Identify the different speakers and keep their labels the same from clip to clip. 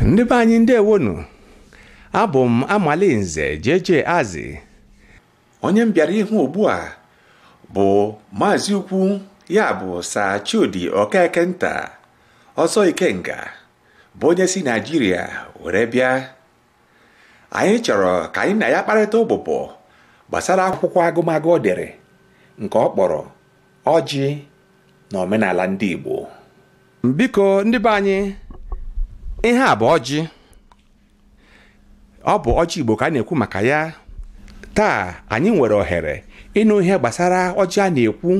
Speaker 1: ndị be anyị ndewonụ abụ m amalinze JJ Azị onye m bịara ịhụ ugbu a bụ maazị ukwu ya bụ Sir Chudi Okeke nta ọzọ Ikenga bụ onye si Naijiria were bịa anyị chọrọ ka anyị na ya kparịta ụbụbọ gbasara akwụkwọ agụmagụ o dere nke ọ kpọrọ ọjị na omenala ndị Igbo biko ndị be anyị ihe a bụ ọjị ọ bụ ọjị Igbo ka a na-ekwu maka ya taa anyị nwere ohere ịnụ ihe gbasara ọjị a na-ekwu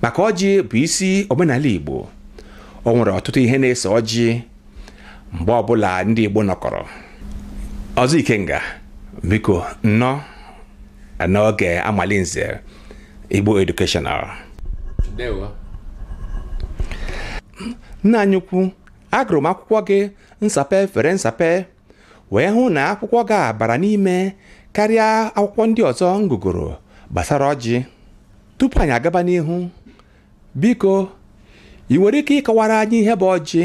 Speaker 1: maka ọjị bụ isi omenala Igbo o nwere ọtụtụ ihe na-eso ọjị mgbe ọbụla ndị Igbo nọkọrọ ọzọ Ikenga biko nnọọ n'oge Amalinze Igbo Educational nna anyị ukwu agụrụ m akwụkwọ gị nsape fere nsape wee hụ na akwụkwọ gị a bara n'ime karịa akwụkwọ ndị ọzọ m gụgoro gbasara ọjị tupu anyị agaba n'ihu biko ị nwere ike ịkọwara anyị ihe bụ ọjị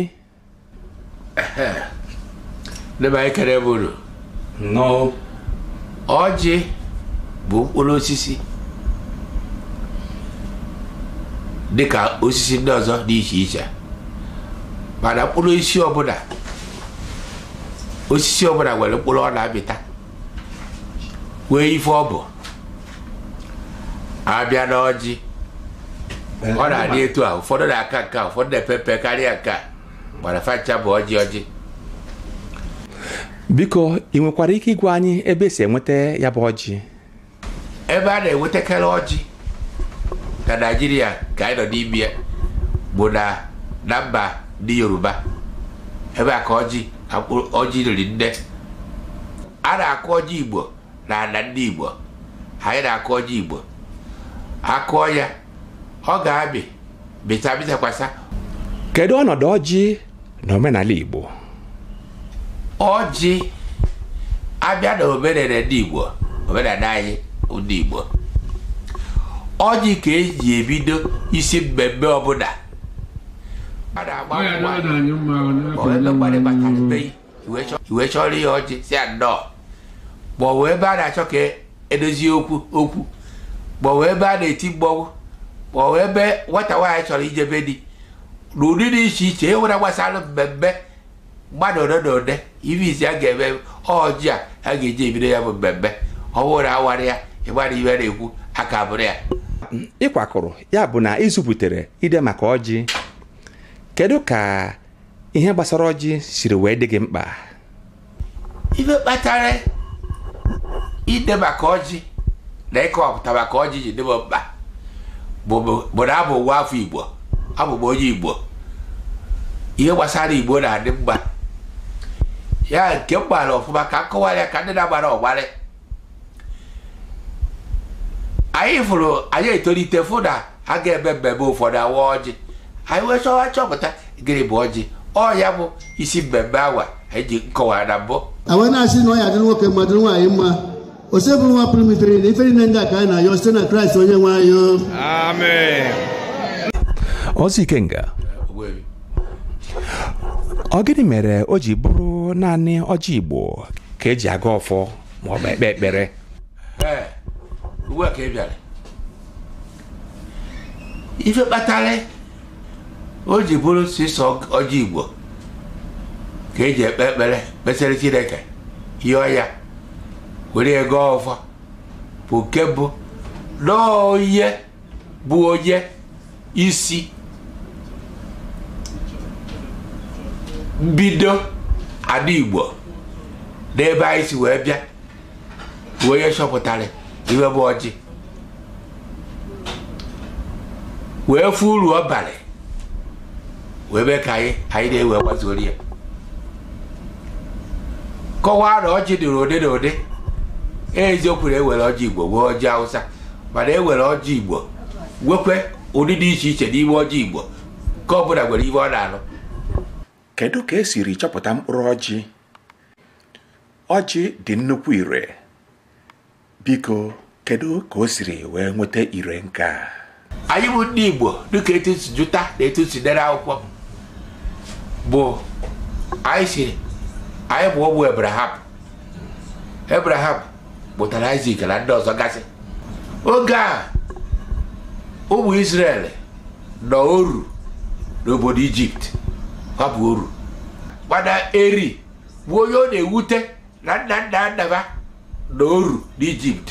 Speaker 1: ndị be anyị ekene m unu nnọọ ọjị bụ mkpụrụ osisi dịka osisi ndị ọzọ dị iche iche mana mkpụrụ osisi ọbụla osisi ọbụla nwere mkpụrụ ọ na-amịta wee ife ọ bụ a bịa na ọjị ọ na-adị etu a ụfọdụ na-aka nke a ụfọdụ na-epe mpe karịa nke a mana fa ncha bụ ọjị ọjị biko ị nwekwara ike ịgwa anyị ebe e si enweta ya bụ ọjị ebe a na-enwetakarị ọjị na naijiria ka anyị nọ n'ime ya bụ na na mba ndị yoruba ebe a ka ọjị ọjị riri nne a na-akụ ọjị igbo na ala ndị igbo anyị na-akụ ọjị igbo a kụọ ya ọ ga-amị mịta mịtakwasa kedu ọnọdụ ọjị n'omenala Igbo ọjị a bịa na omenala ndị Igbo omenala anyị ndị Igbo ọjị ka e ji ebido isi mmemme ọbụla i wee chọọrọ ya ọjị sị ya nnọọ ma ọ bụ ebe a na-achọ ka e dozie okwu okwu ma ọ bụ ebe a na-eti mmọnwụ ma ọ bụ ebe nwata nwaanyị chọrọ ijebe di na ụdị dị iche iche e nwere gbasara mmemme mmadụ ole na ole ife izizi a ga-eme ọjị ka a ga-eji ebido ya bụ mmemme ọ bụrụ na a warọ ya ị mara ife a na-ekwu aka bụrụ ya ịkwakọrọ ya bụ na ịzụpụtere ide maka ọjị kedu ka ihe gbasara ọjị siri wee dị gị mkpa ife kpatara ide maka ọjị na ịkọwapụta maka ọjị ji dị mụ mkpa bụ na abụ m nwa afọ igbo abụ m onye igbo ihe gbasara igbo na-adị m mma ya nke m maara ọfụma ka m kọwara ya ka ndị na-amarọ mara ya anyị fụrụ anyị etolite fụ na a ga-eme mmemme ụfọdụ a waa ọjị anyị wee chọwa chọpụta gịnị bụ ọjị ọ ya bụ isi mmemme awa anyị ji nkọwa na mbụ awa na-asị na ọ ya-adịrị nwoke mma dịrị nwaanyị mma osebụrụwa pụrụ ime ihe niile ife niile ndị a ka anyị na-ayọ site na kraịst onye nwe anyị Amen. Ozi Ikenga ọ gịnị mere o ji bụrụ naanị ọjị igbo ka eji agọ ọfọ ma ọ bụ ekpe ekpere ee ugbu a ka ị bịara ife kpatara o ji bụrụ sọsọ ọjị igbo ka eji ekpe ekpere kpesara chineke yọọ ya were agọ ọfọ bụ nke mbụ na onye bụ onye isi mbido ala igbo n'ebe anyị si wee bịa bụ onye chọpụtara ife bụ ọjị wee fụ uru ọ bara wee mee ka anyị anyị nwa ewee gbasoro ya kọwaa na ọjị dịrị ụdị na ụdị eziokwu na e nwere ọjị igbo nwee ọjị hausa mana e nwere ọjị igbo nwekwee ụdị dị iche iche n'ime ọjị igbo nke ọbụla nwere ife ọ na-alụ kedu ka e siri chọpụta mkpụrụ ọjị ọjị dị nnukwu ire biko kedu ka o siri wee nweta ire nke a anyị bụ ndị igbo dịka etu e si jụta na etu e si dere akwụkwọ bụ anyị si anyị bụ ụmụ ebraham ebraham mụtara isak na ndị ọzọ gasị oge a ụmụ isrel nọ oru n'obodo ijipt ha bụ oru mana eri bụ onye ọ na-ewute na nna nna ha nọ n'oru n'ijipt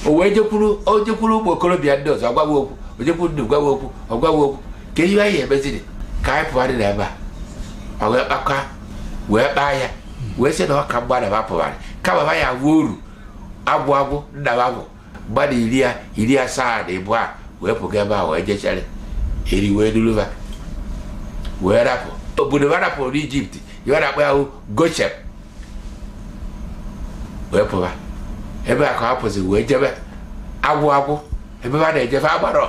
Speaker 1: o wee jekwuru o jekwuru ụmụ okorobịa ndị ọzọ gwa wa okwu o jekwuru ndị gwa wa okwu ọ gwa wa okwu kee ihe anyị emeziri ka anyị pụgharị na ebe a ọ wee kpakọ wee kpaa ya wee sị na ọ ka mma na ba pụgharị kama ba ya wuo oru agwụ agwụ ndaba bụ mmadụ iri ya iri asaa na ịbụa wee pụga ebe a wee jechere eri wee dulu ba wee rapụ obodo ba rapụrụ n'ijipt ya na-akpọ ya hụ goshen wee pụba ebe a ka ha pụzi wee jebe agwụ agwụ ebe ba na-ejefe agbarọ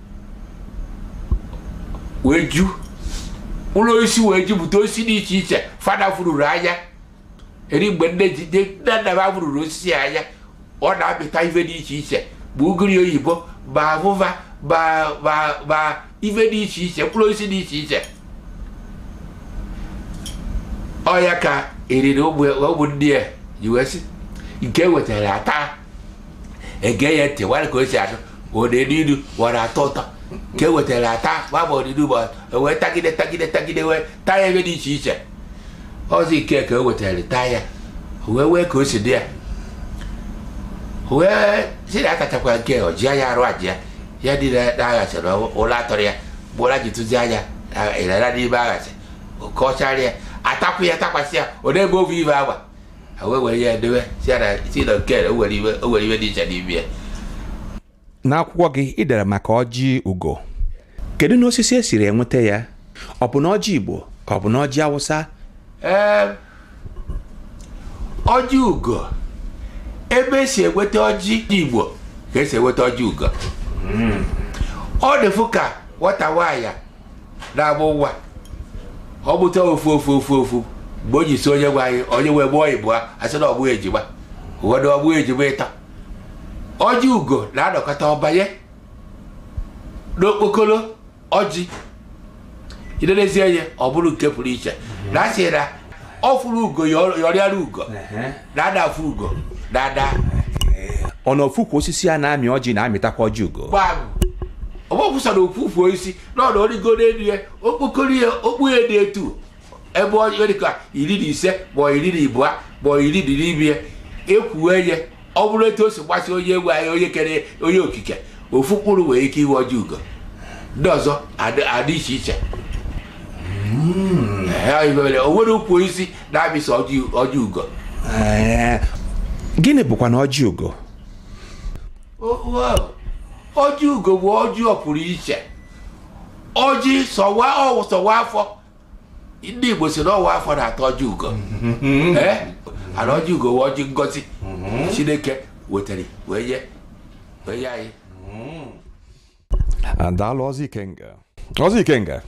Speaker 1: wee ju ụlọ osisi wee jupụta osisi dị iche iche fada fururu anya eri mgbe nne ji nne nna m fururu osisi anya ọ na-amịta ife dị iche iche bụ ugiri oyibo ma afụfa ma ife dị iche iche mkpụrụ osisi dị iche iche ọ ya ka eri na ụmụnne ya ji wee sị nke e wetara ata ege ya ntị wara ka o si adụ odede ilu wara atọ ụtọ ka e wetara ata gbaba odede ụbọchị e wee tagide tagide tagide wee taa ya ebe dị iche iche ọzọ ike ka o wetara taa ya o wee wee ka o si dị ya O wee si na akachakwa nke ọ jia ya arụ ajia ya dị na na anyasị na ụla atọrọ ya gbụra ji tụzi anya ịrara n'ime anyasị oke ọchara ya atakwu ya takwasị ya ọ na-ebe ovu ibe agba ha wee were ya edewe si ara si na nke o nwere ife o nwere ife dị iche n'ime ya n'akwụkwọ gị ị dere maka ọjị ugo kedu na osisi e siri enweta ya ọ bụ na ọjị igbo ka ọ bụ na ọjị awụsa ee ọjị ugo ebe e si enweta ọjị igbo ka e si enweta ọjị ugo ọ dịfụ ka nwata nwaanyị na-amụ nwa ọ mụta ofu ofu ofu ofu mgbe o ji si onye nwe anyị onye wee mụọ ịbụọ a sị na ọ mụ ejima ụfọdụ ọ mụ ejima ịtọ ọjị ugo na-anọkata ọ banye n'okpokoro ọjị i nenezie ya ọ bụrụ nke pụrụ iche na a sị na ọ fụrụ ugo ṅọrịara ugo na ada afụ ugo daa daa ọ na ofu ukwu osisi a na-amị ọjị na-amịtakwa ọjị ugo gbagụ ọgbọkwụsara ofufu osisi n'ọdụ ọ rịgo n'elu ya okpokoro ya okpu ya dị etu ebe ọ dịka iri na ise ma iri na ibụa ma iri dị n'ime ya ekwuwe ya ọ bụrụ etu o si masị onye nwe anyị onye kere onye okike ofu mkpụrụ nwere ike ịbụ ọjị ugo ndị ọzọ adị adị iche iche Ee, o nwere ukwu osisi na-amị sọ ọjị ugo gịnị bụkwa na ọjị ugo ọjị ugo bụ ọjị pụrụ iche ọjị sọ nwa ọ wụ sọ nwa afọ ndị Igbo sị na nwa afọ na-ata ọjị ugo eh? and ọjị ugo bụ ọjị ngozi mm-hmm. Chineke wetara wee nye wee nye anyị mm-hmm. daalụ ọzọ ikenga ọzọ ikenga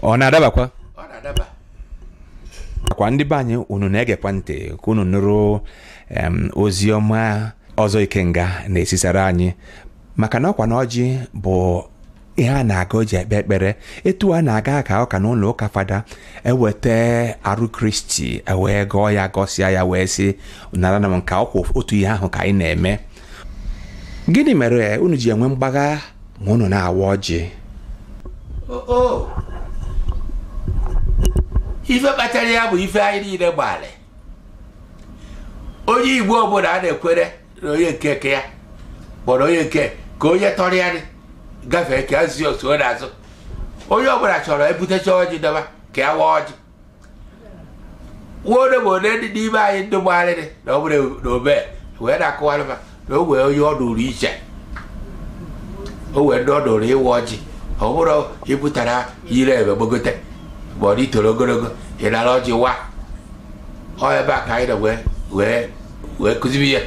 Speaker 1: ọ na-adabakwa ọ na-adabakwa ndị be anyị unu na-egekwa ntị ka unu nụrụ em, ozi ọma ọzọ ikenga na-ezisara anyị maka na ọkwa na ọjị bụ ihe a na-agọ e ji ekpe ekpere etu a na-aga ka ụka na ụlọ ụka fada eweta arụ kristi ewee gọọ ya gọsịa ya wee sị naranụ nke a ọkwa otu ihe ahụ ka anyị na-eme gịnị mere unu ji enwe mgbagha ma unu na-awa ọjị ife kpatara ya bụ ife anyị niile gbalị onye igbo ọbụla a na-ekwere na onye nke ka ya kpọrọ onye nke ka onye tọrọ ya gafee ka azi otu ọ na-azụ onye ọbụla chọrọ ebutecha ọjị dọba ka ya waa ọjị nwode bụ one dị n'ime anyị ndị gbarịrị na ọ bụrụ na obe wee na-akụwara ma na o wee onye ọ dụrụ iche o wee ndị ọ dụrụ ịwa ọjị ọ bụrụ ị pụtara ire ebe gbogote ma ọ na i toro ogologo ị nara ọjị waa ọ ebe a ka anyị na wee wee wee kụzibi ya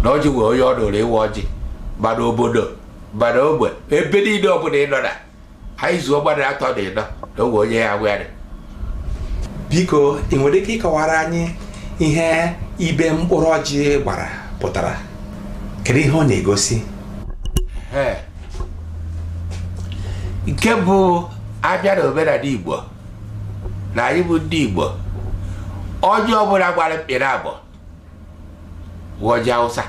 Speaker 1: na ọjị wee onye ọ dụrụ ịwa ọjị ma na obodo ma na ogbe ebe niile ọbụla ị nọ na anyị zuo gbadara atọ dị ịnọ na o wee onye ya awarị biko ị nwere ike ịkọwara anyị ihe ibe mkpụrụ ọjị gbara pụtara kedu ihe ọ na-egosi Ee. nke mbụ a bịa na omenala igbo na anyị bụ ndị igbo ọjị ọbụla gbara mkpịrị abụọ wụ ọjị awụsa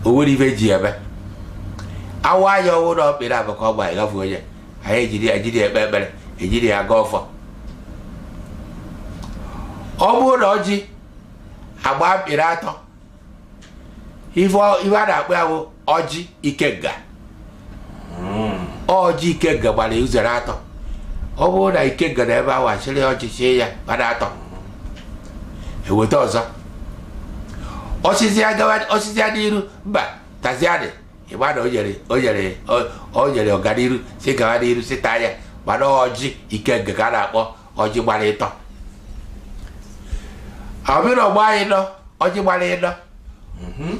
Speaker 1: o nwere ife e ji eme a waa ya ọ wụ na ọ mkpịrị abụọ ka ọ gba ịgafe onye anyị ejiri ejiri ekpe ekpere ejiri ya agọ ọfọ ọ bụrụ na ọjị agbaa mkpịrị atọ ife a na-akpọ ya bụ ọjị ikenga hmm. ọjị ikenga gbara uzere atọ ọ bụrụ na ikenga na ebe a wasịrị ọjị chie ya gbara atọ eweta ọzọ osisi ya n'iru mba taziadị ịgba na o nyere ọganiru sị gawa n'iru sị taa ya gbara ọjị ikenga ka a na-akpọ ọjị gbara ịtọ ọ bụrụ ọ gbaa ịnọ ọjị gbara ịnọ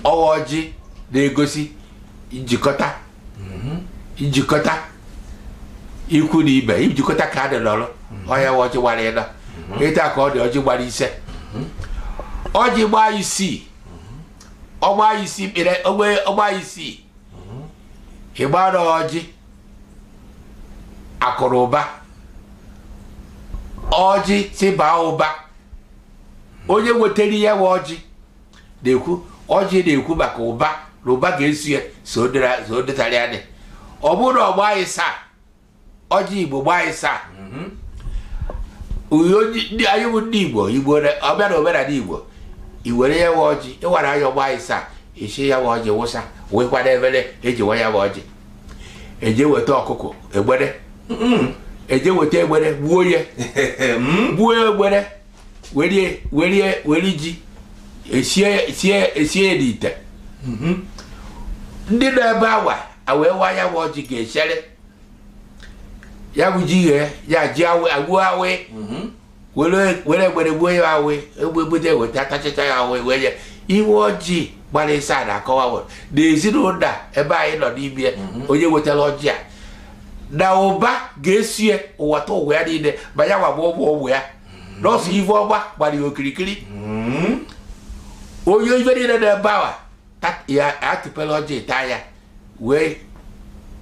Speaker 1: ọ wụ ọjị na-egosi njikọta njikọta ikwu na ibe njikọta ka a dị n'ọrụ ọ ya wụ ọjị gbara ịnọ etu a ka ọ dị ọjị gbara ise ọjị gbaa isii ọgba isii mkpere ogbe ọgba isii ịgbara ọjị akụrụ ụba ọjị si baa ụba onye wetara ya wụ ọjị na-ekwu ọjị na-ekwu maka ụba na ụba ga-eso ya so dịtara ya dị ọ bụrụ na ọ gbaa ịsaa ọjị igbo gbaa ịsaa mhm. anyị bụ ndị igbo igbo ọbịa na omenala igbo i were ya wụ ọjị ị wara ya ọ gbaa ịsaa i si ya wụ ọjị wụsa wee kwado efere e ji waa ya wụ ọjị e jee weta ọkụkọ egbere e jee weta egbere gbuo ya hmm? gbuo egbere werie werie were ji esie esie esie ya n'ite hmm? ndị nọ ebe awa a wee waa ya bụ ọjị ga-echere ya bụ ji ghee ya ji awụ awụ were egbere gbuo ya ahụ egbebute weta atachịcha ya ahụ wee ya iwe ọjị gbara ịsaa na akọwawo na ezinụlọ ebe anyị nọ n'ime mhm. onye wetara ọjị a na ụba ga-eso ya bata ụwa ya niile ma ya gbagba ụgbọ ụgbọ ya mhm. nọọsụ ive ọgba gbara ya okirikiri mhm. onye ife niile nọ ebe a wa ya atụpela ọjị taa ya wee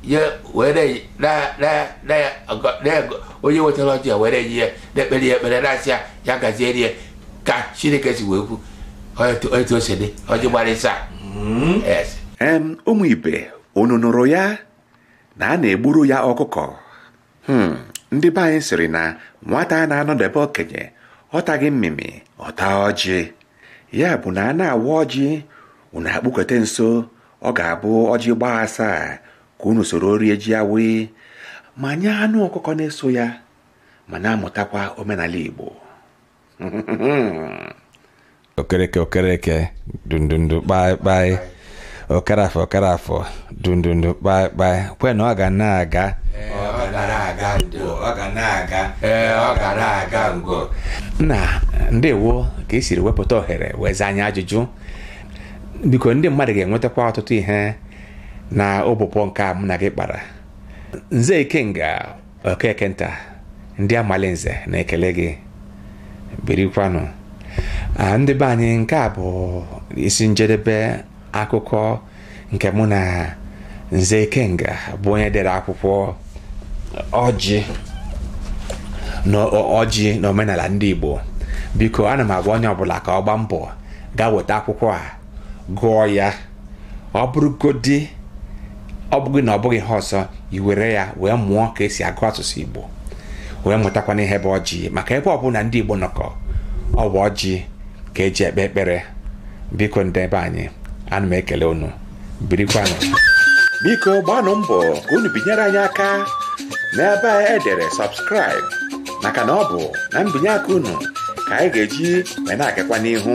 Speaker 1: ye were na na na ya ọgọ- na ya- onye wetara ọjị ya were yi ya na-ekpere ya ekpere na-asị ya ya gaziere ya ka chineke si wee kwu otu otu o si dị ọjị gbara ịsaa yes em ụmụ ibe unu nụrụ ya na a na-egburu ya ọkụkọ Hmm, ndị be anyị sịrị na nwata na-anọdebe okenye ọ taghị mmịmị ọ taa ọjị ya bụ na a na-awa ọjị unu akpụkete nso ọ ga-abụ ọjị gbaa asaa ka unu soro rie ji awaị ma nye anụ ọkụkọ na-eso ya ma na-amụtakwa omenala Igbo okereke okereke dundundu kpaịkpaị okere afọ okere afọ dundundu kpaịkpaị kwenu ọ ga na-aga nna ndewo ka i siri wepụta ohere wee zaa anyị ajụjụ biko ndị mmadụ ga-enwetakwa ọtụtụ ihe na ụbụbọ nke a mụ na gị kpara nze ikenga okeke nta ndị amali nze na-ekele gị birikwanụ Ah, ndị be anyị nke a bụ isi njedebe akụkọ nke mụ na nze ikenga bụ onye dere akwụkwọ ọjị ọjị na omenala ndị igbo biko ana m agwa onye ọbụla ka ọ gbaa mbọ gaa weta akwụkwọ a gụọ ya ọ bụrụgodi ọ bụghị na ọ bụghị ihe ọzọ i were ya wee mụọ ka e si agụ asụsụ igbo wee mụtakwana ihe bụ ọjị maka ebe ọbụla ndị igbo nọkọ ọ bụ ọjị ka eji ekpe ekpere biko ndị ebe anyị ana m ekele unu birikwanụ biko gbaanụ mbọ ka unu binyere anyị aka n'ebe a edere subscribe maka na ọ bụ na mbinye aka unu ka anyị ga-eji wee na-agakwa n'ihu